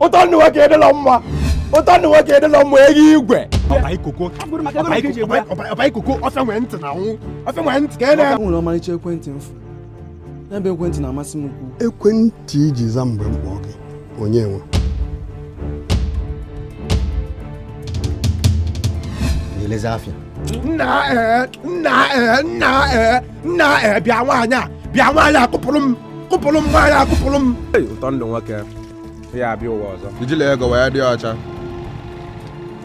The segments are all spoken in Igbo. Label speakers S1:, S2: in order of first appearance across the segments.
S1: ụtọ ndụ nwoke edịla mma ụtọ ndụ nwoke edịla mma ego igwe ọbaikoko ọfịa nwee ntị na nwụ ọfịa nwee ntị ka e na-eme nwere ọmarịcha ekwentị
S2: mfu n'ebe ekwentị na-amasị m ukwu ekwentị i ji
S3: za mgbe m kpọ gị onye
S4: nwe na-elezi afịa nna ee nna ee
S1: nna ee nna ee bịa nwaanyị a bịa nwaanyị a kụpụrụ m kụpụrụ m nwaanyị akụpụrụ m Hey, ụtọ ndụ
S5: nwoke ya abịa ụwa ọzọ ijila ego wee dị
S6: ọcha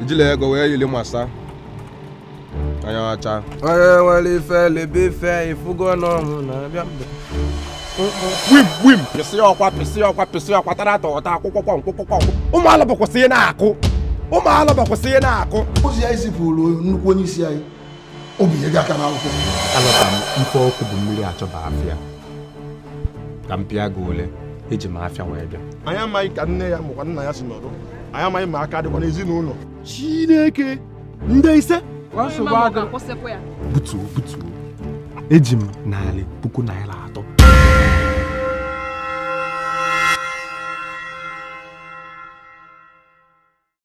S6: ijila ego wee yiri masa anya ọcha onye nwere ife
S5: lebe ife ị fụgo na ọnwụ na-abịa
S1: mgbe wim wim pịsị ọkwa pịsị ọkwa pịsị ọkwa tara atọ ọta akwụkwọ kwọ nkwụkwọ kwọ ụmụ alụba kwụsị ihe na-akụ ụmụ alụba kwụsị ihe na-akụ ozi anyị zipụrụ
S3: nnukwu onye isi anyị o binyeghị aka n'akwụkwọ alọta
S5: m mfe ọkụ bụ mmiri a chọba afịa ka m pịa gị ole eji m afịa wee bịa anyị amaghị ka nne ya
S7: makwa nna ya si nọdụ anyị amaghị ma ha ka dịkwa n'ezinụlọ chineke
S1: ndị ise nsogbu
S5: adị akwụsịkwa ya butuo butuo eji m narị puku naira atọ